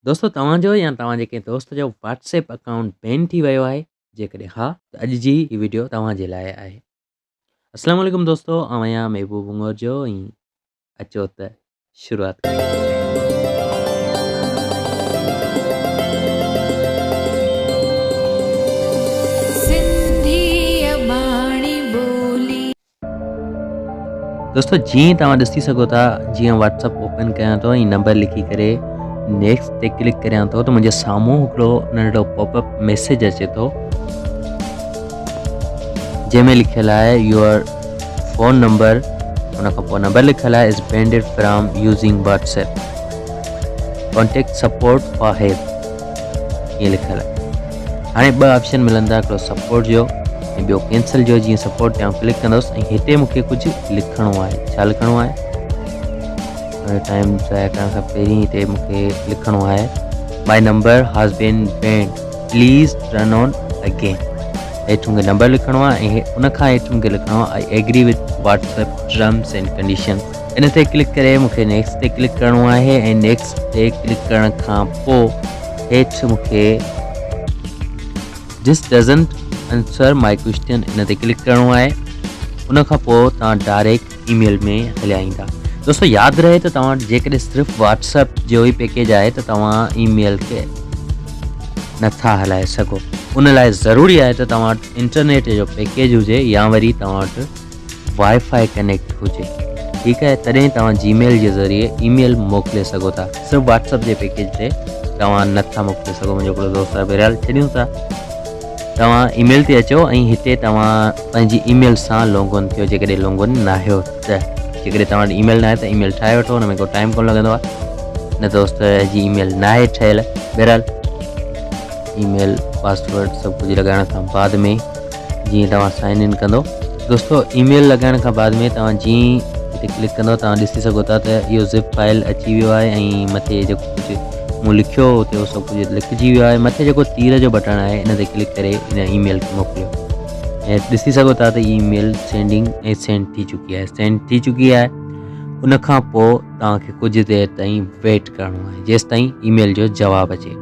دوستو توهان جو يا توهان جي ڪنهن دوست جو واٽس ايپ اڪائونٽ بين ٿي ويو آهي جيڪڏهن ها ته اڄ جي هي ويڊيو توهان جي لاء آهي السلام عليڪم دوستو آئون آهيان محبوب بنگور جو ۽ اچو ته شروعات دوستو جيئن توهان ڏسي سگهو ٿا جيئن واتس اپ اوپن ڪيان ٿو ۽ نمبر لکي ڪري نيڪسٽ تي ڪلڪ ڪريان ٿو ته منهنجي سامهون هڪڙو ننڍڙو پاپ اپ ميسج اچي ٿو جنهن ۾ لکيل آهي يور فون نمبر ان کان پوء نمبر لکيل آهي is banned from using WhatsApp contact support for help ائين لکيل آهي هاڻي ٻه آپشن ملندا هڪڙو سپورٽ جو ۽ ٻيو ڪينسل جو جيئن سپورٽ تي آئون ڪلڪ ڪندس ۽ هتي مون کي ڪجهه لکڻو آهي ڇا لکڻو آهي ٽائيم ضايع ڪرڻ کان پهرين هتي مون کي لکڻو آهي my number has been banned please run on again هيٺ مون کي نمبر لکڻو آهي ۽ ان کان هيٺ مون کي لکڻو آهي I agree with WhatsApp terms and conditions ان تي ڪلڪ ڪري مون کي نيڪسٽ تي ڪلڪ ڪرڻو آهي ۽ نيڪسٽ تي ڪلڪ ڪرڻ کان پوء هيٺ مون کي This doesn't answer my question ان تي ڪلڪ ڪرڻو آهي ان کان پوء توهان ڊائريڪٽ اي ميل ۾ هليا ايندا دوستو ياد رهي ته توهان جيڪڏهن صرف واتس اپ جو ئي پيڪيج آهي ته توهان اي ميل کي نٿا هلائي سگهو ان لاء ضروري آهي ته توهان وٽ انٽرنيٽ جو پيڪيج هجي يا وري توهان وٽ واء فاء ڪنيڪٽ هجي ٺيڪ آهي تڏهن توهان جي ميل جي ذريعي اي ميل موڪلي سگهو ٿا صرف واٽس اپ جي پيڪيج تي توهان نه ٿا موڪلي سگهو منهنجو هڪڙو دوست آهي بهرحال ڇڏيون ٿا توهان اي ميل تي اچو ۽ هتي توهان پنهنجي اي ميل سان لونگ ان ٿيو جيڪڏهن لونگ ان نه آهيو ته جيڪڏهن توهان وٽ اي ميل نه آهي ته اي ميل ٺاهي وٺو ان ۾ ڪو ٽائيم ڪون لڳندو آهي نه دوست جي اي ميل نه آهي ٺهيل بهرحال اي ميل پاسورڊ سڀ ڪجهه لڳائڻ کان بعد ۾ جيئن توهان سائن ان ڪندو دوستو اي ميل لڳائڻ کان بعد ۾ توهان جيئن ئي هتي ڪلڪ ڪندو توهان ڏسي سگهو ٿا ته اهو زپ فائل اچي ويو آهي ۽ مٿي جيڪو ڪجهه مون لکيو هو اتي اهو سڀ ڪجهه لکجي ويو آهي مٿي جيڪو تير جو بٽڻ آهي ان تي ڪلڪ ڪري ان اي ميل کي موڪليو ۽ ڏسي سگهو ٿا ته اي ميل سينڊنگ ۽ سينڊ ٿي چڪي آهي سينڊ ٿي چڪي آهي ان کان پوء توهان کي ڪجهه دير تائين ويٽ ڪرڻو آهي جيستائين اي ميل جو جواب اچي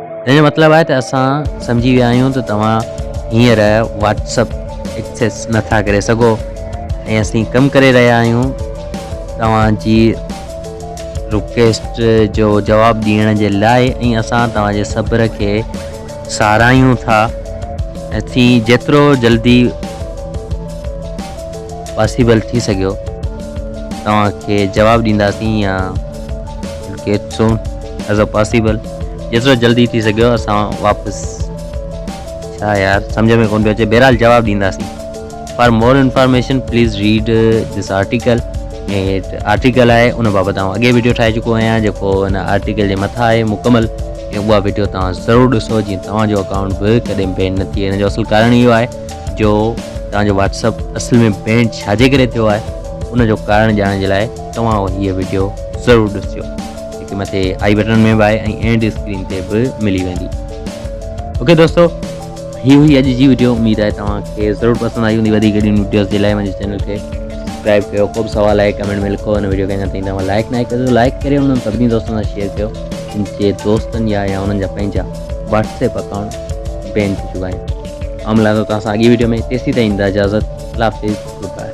ان جو مطلب آهي ته اسان سمجهي ويا آهيون ته توهان هينئر واٽس اپ ايڪسيس نه ٿا ڪري سگهو ۽ اسين ڪم ڪري رهيا آهيون توهان جي رڪويسٽ جو جواب ڏيڻ جي لاء ۽ اسان توهان جي صبر کي ساراهيون ٿا ۽ ٿي جيترو جلدي پاسيبل ٿي سگهيو توهان کي جواب ڏينداسين يا get soon as a possible جيترو جلدي ٿي سگهيو اسان واپس ڇا يار سمجھ ۾ ڪون پيو اچي بهرحال جواب ڏينداسين for more information please read this article هيٺ آرٽيڪل آهي ان بابت آئون اڳي ويڊيو ٺاهي چڪو آهيان جيڪو هن آرٽيڪل جي مٿان آهي مڪمل ۽ اها ويڊيو توهان ضرور ڏسو جيئن توهان جو اڪائونٽ به ڪڏهن بين نه ٿئي هن جو اصل ڪارڻ اهو آهي جو توهان جو واتسپ اصل ۾ بين ڇاجي ڪري ٿيو آهي ان جو ڪارڻ ڄاڻڻ جي لاء توهان هيء ويڊيو ضرور ڏسجو جيڪي مٿي آئي بٽن ۾ به آهي ۽ اينڊ اسڪرين تي به ملي ويندي اوڪي دوستو هي هئي اڄ جي ويڊيو اميد آهي توهان کي ضرور پسند آئي هوندي وڌيڪ اهڙيون ويڊيوز جي لاء منهنجي چينل کي سبسڪرائب ڪيو ڪو به سوال آهي ڪمينٽ ۾ لکو هن ويڊيو کي اڃا تائين توهان لائڪ ناهي ڪيو لائڪ ڪري انهن سڀني دوستن سان شيئر ڪيو جن جي دوستن يا يا انهن جا پنهنجا واتسپ اڪائونٽ بين ٿي چڪا آهن آئون ملان ٿو توهان سان اڳي ويڊيو ۾ تيسي تائين اجازت لاء گڊ بائي